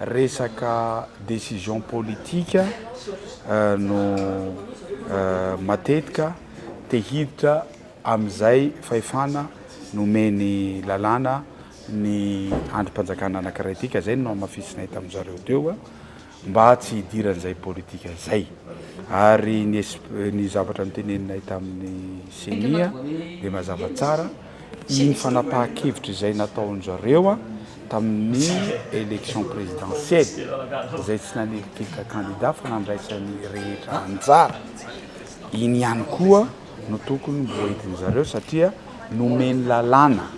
Resaka décision politique no matetika te hiditra amin'izay fahefana nomeny lalàna ny andrim-panjakana anankiray ity ka izay no nohamafisinay tamin-dry zareo teo mba tsy hidiran'izay politika izay. Ary ny zavatra noteneninay tamin'ny ceni dia mazava tsara. Iny fanapahan-kevitra izay nataon-dry zareo tamin'ny élection présidentielle izay tsy nanilitihitra candidat fa nandraisan'ny rehetra anjara, iny ihany koa no tokony mbo entin-dry zareo satria nomeny lalàna,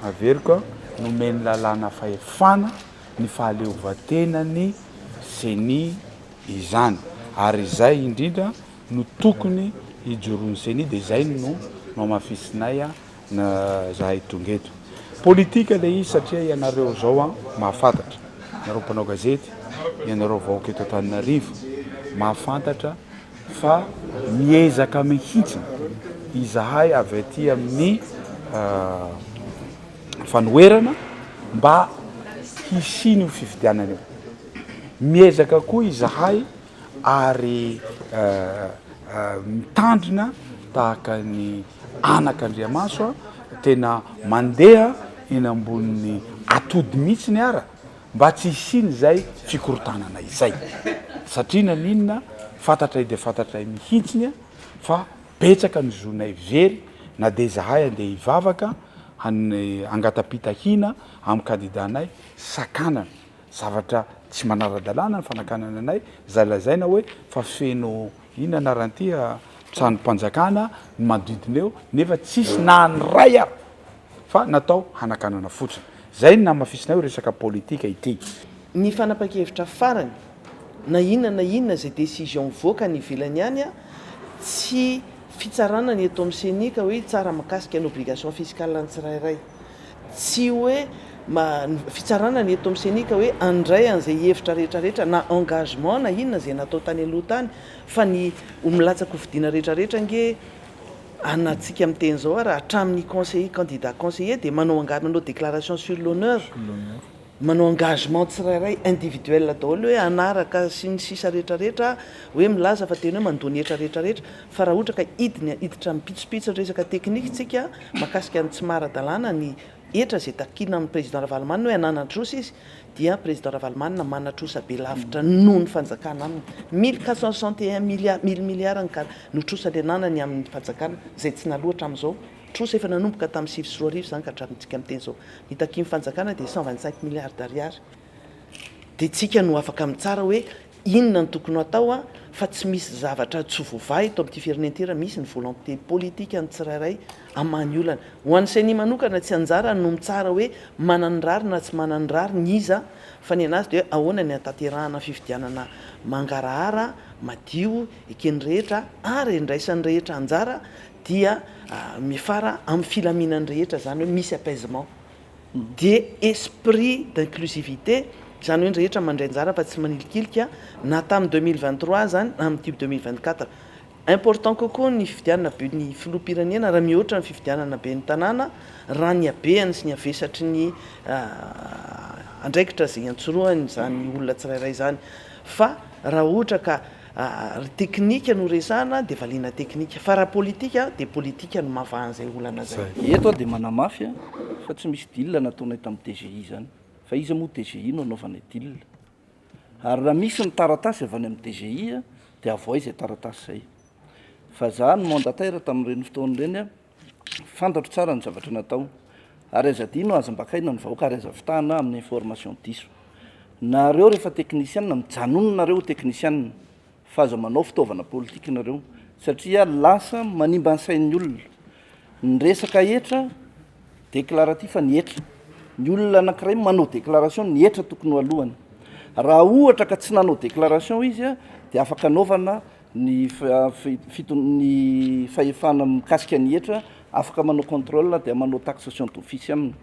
averiko an, nomeny lalàna fahefana ny fahaleovantenan'ny ceni izany ary izay indrindra no tokony hijoroan'ny ceni dia izay no nohamafisinay zahay tonga eto. Politika ilay izy satria ianareo izao mahafantatra, ianareo mpanao gazety, ianareo vahoaka eto Antananarivo mahafantatra fa miezaka mihitsy izahay avy aty amin'ny fanoherana mba hisian'io fifidianana io. Miezaka koa izahay. ary mitandrina tahaka ny anak' Andriamaso a, tena mandeha eny ambonin'ny atody mihitsiny ara mba tsy hisian'izay fikorontanana izay, satria na n'inona fantatray dia fantatray mihitsiny a fa betsaka ny zonay very na dia izahay andeha hivavaka hangata-pitahiana amin'ny kandidanay sakanana. zavatra tsy manara-dalàna ny fanakanana anay, izay lazaina hoe fa feno inona anarany ity a, tranom-panjakana ny manodidina eo, nefa tsisy na ny iray ary fa natao hanakanana fotsiny. Izay no namafisinay hoe resaka politika ity. Ny fanapan-kevitra farany, na inona na inona izay décision mivoaka any ivelany any a, tsy fitsarana ny eto amin'ny ceni ka hoe hitsara mikasika ny obligation fiscale ny tsirairay. Tsy hoe ma, ny fitsarana ny eto amin'ny ceni ka hoe handray an'izay hevitra rehetra rehetra na engagement na inona izay natao tany aloha tany fa ny ho milatsaka ho fidiana rehetra rehetra ange an antsika miteny izao ary hatramin'ny conseiller candidat conseiller dia manao angady manao declaration sur l'honneur manao engagement tsirairay individuel daholo hoe hanaraka sy ny sisa rehetra rehetra hoe milaza fa tena hoe mandoa ny hetra rehetra rehetra fa raha ohatra ka hidiny hiditra ampitsopitsony resaka technique tsika makasika ny tsy maradalana ny hetra zay takina amin'ny président ravalomanana hoe hananatrosa izy dia président ravalomanana manatrosa be lavitra noho ny fanjakana aminy mille quatre cent soixante et un milliard mille milliard ny kara notrosany ananany amin'ny fanjakana zay tsy naloa hatramin'izao Trosa efa nanomboka tamin'ny sivy sy roa arivo izany ka hatramintsika miteny izao ny takian'ny fanjakana dia cent vingt cinq milliards d'ariary dia tsika no afaka mitsara hoe inona no tokony hatao fa tsy misy zavatra tsy voavaha eto amin'ity firenena ity raha misy ny volonté politique an'ny tsirairay hamaha ny olana. Ho an'ny ceni manokana tsy anjarany no mitsara hoe manana ny rariny na tsy manana ny rariny iza fa ny anazy dia ahoana ny hanatanterahana fifidianana mangarahara, madio, eken'ny rehetra ary endraisan'ny rehetra anjara dia mifara amin'ny filaminan'ny rehetra, izany hoe misy apaisement, dia esprit d'inclusivité, izany hoe ny rehetra mandray anjara fa tsy manilikilika, na tamin'ny deux mille vingt trois aza na amin'ity deux mille vingt quatre. Important kokoa ny fifidianana ben'ny filoham-pirenena raha mihoatra ny fifidianana ben'ny tanàna, raha ny habehany sy ny havesatry ny andraikitra izay iantsorohany izany olona tsirairay izany, fa raha ohatra ka. Ary teknika no resahana dia valiana teknika. Fa raha politika dia politika no mavaha an'izay olana izay. Eto aho dia manamafy fa tsy misy deal nataonay tamin'ny DGI izany. Fa iza moa DGI no hanaovanay deal? Ary raha misy ny taratasy avy any amin'ny DGI dia avohay izay taratasy izay. Fa izaho no mandataire tamin'ireny fotoana ireny. Fantatro tsara ny zavatra natao ary aza adino aza ambakaina ny vahoaka ary aza fitahana amin'ny information diso. Nareo rehefa teknisianina mijanona nareo ho teknisianina fa aza manao fitaovana politika nareo satria lasa manimba ny sain'ny olona. Ny resaka hetra déclaratif fa ny hetra. Ny olona anakiray manao déclaration ny hetra tokony ho alohany. Raha ohatra ka tsy nanao déclaration izy dia afaka anaovana Ny ny fahefana mikasika ny hetra, afaka manao contrôle dia manao taxation d'office aminy.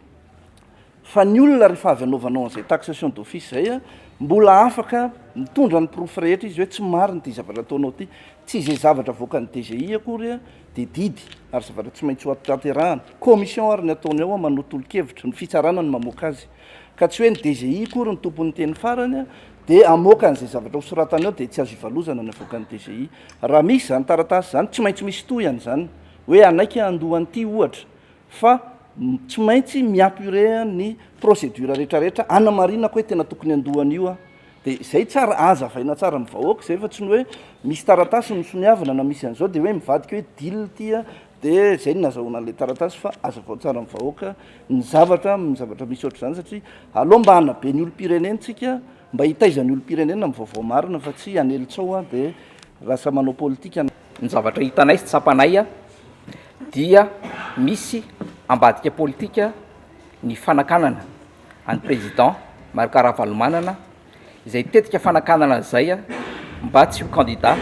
Fa ny olona rehefa avy anaovanao an'izay taxation d'office izay a, mbola afaka mitondra ny porofo rehetra izy hoe tsy marina ity zavatra ataonao ity. Tsy izay zavatra avoakan'ny DGI akory a, dia didy ary zavatra tsy maintsy hoattraterahana. Commission ary ny ataony ao a, manao tolo-kevitra, ny fitsarana no mamoaka azy. ka tsy hoe ny DGI akory no tompon'ny teny farany, dia hamoaka an'izay zavatra hosoratany ao dia tsy azo ivalozana ny avoakan'ny DGI. Raha misy izany taratasy izany, tsy maintsy misy tohiny izany, hoe hanaiky handoa an'ity ohatra, fa tsy maintsy mi-apurer ny procédure rehetrarehetra hanamarinako hoe tena tokony handoa an'io aho. Dia izay tsara, azavaina tsara amin'ny vahoaka izay fa tsy ny hoe misy taratasy misoniavina na misy an'izao dia hoe mivadika hoe deal ity an, dia izay no nazahoana an'ilay taratasy fa azavao tsara amin'ny vahoaka ny zavatra, ny zavatra misy ohatr'izany satria aleo mba hanabe ny olom-pirenentsika, mba hitaiza ny olom-pirenena amin'ny vaovao marina fa tsy hanely tsao an, dia lasa manao politika. Ny zavatra hitanay sy tsapanay an, dia misy ambadika politika ny fanakanana an'i Président Marc Ravalomanana izay tetika fanakanana an'izay mba tsy ho candidat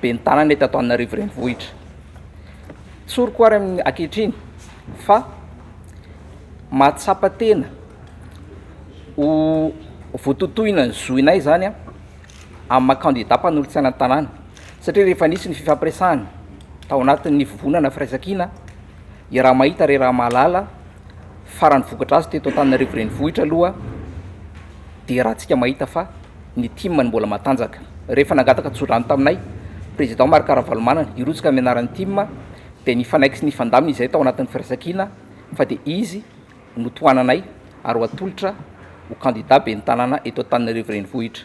ben'ny tanana eto Antananarivo Renivohitra. Tsoriko ary amin'ny ankehitriny fa mahatsapa tena ho vototohina ny zohinay izany amin'ny maha candidat mpanolotsaina ny tanàna satria rehefa nisy ny fifampiresahana tao anatin'ny vovonana firaisankina i Rahamahita re Rahamahalala Farany vokatra azy teto Antananarivo renivohitra aloha dia raha antsika mahita fa ny tim no mbola matanjaka. Rehefa nangataka tsodrano taminay président Marc Ravalomanana hirotsaka amin'ny anaran'ny tim dia nifanaiky sy nifandamina izahay tao anatin'ny firaisankina fa dia izy no tohananay ary ho atolotra ho candidat ben'ny tanàna eto Antananarivo renivohitra.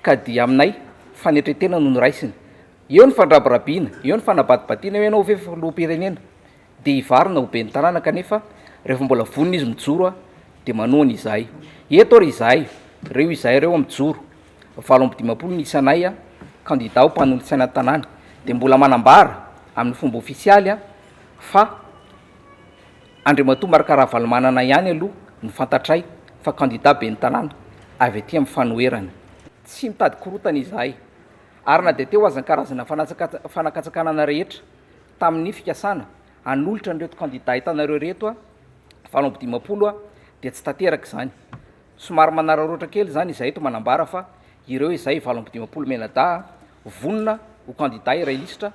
Ka dia aminay, fanetren-tena no noraisiny. Eo ny fandrabirabiana, eo ny fanabadibadiana, eo ianao ve filoham-pirenena dia hivarina ho ben'ny tanàna kanefa rehefa mbola vonona izy mijoro dia manohana izahay. Eto ary izahay, reo izahay reo mijoro, valo amby dimampolo ny isanay kandida ho mpanolotsaina ny tanàna dia mbola manambara amin'ny fomba ofisialy fa Andriamatoa Marc Ravalomanana ihany aloha no fantatray fa kandida ben'ny tanàna avy aty amin'ny fanoherana. Tsy mitady korontana izahay ary na dia teo aza ny karazana fanakatsakanana rehetra tamin'ny fikasana hanolotra an'ireto kandida hitanareo ireto valo amby dimampolo dia tsy tanteraka izany. Somary manararaotra kely izany izahay eto manambara fa ireo izay valo amby dimampolo mianadahy vonona ho kandida iray lisitra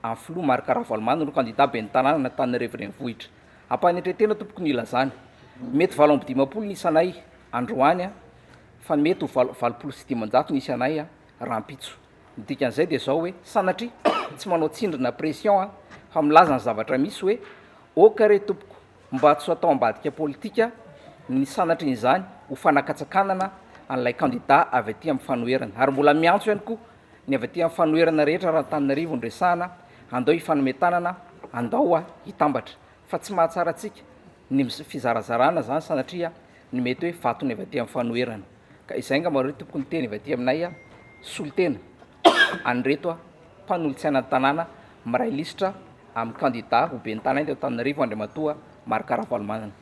An'ny filoha Marc Ravalomanana no kandida ben'ny tanàna an'Antananarivo Renivohitra. Ampanetren-tena tompoko ny hilazany. Mety valo amby dimampolo ny isanay androany fa ny mety ho valo valopolo sy dimanjato ny isanay rahampitso. Ny dikan'izay dia izao hoe sanatria tsy manao tsindry na pression aho fa milaza ny zavatra misy hoe ok re tompoko mba tsy atao ambadika politika ny sanatrian'izany ho fanakatsakanana an'ilay kandida avy aty amin'ny fanoherana ary mbola miantso ihany koa Ny avy aty amin'ny fanoherana rehetra raha Antananarivo no resahana, andao hifanome tanana, andao hitambatra. Fa tsy mahatsara antsika ny fizarazarana izany sanatria ny mety hoe vatony avy aty amin'ny fanoherana. Ka izay angamba no tokony hiteny avy aty aminay solontena an'ireto mpanolotsainan'ny tanàna miray lisitra amin'ny kandida ho ben'ny tanàna eto Antananarivo Andriamatoa Marc Ravalomanana.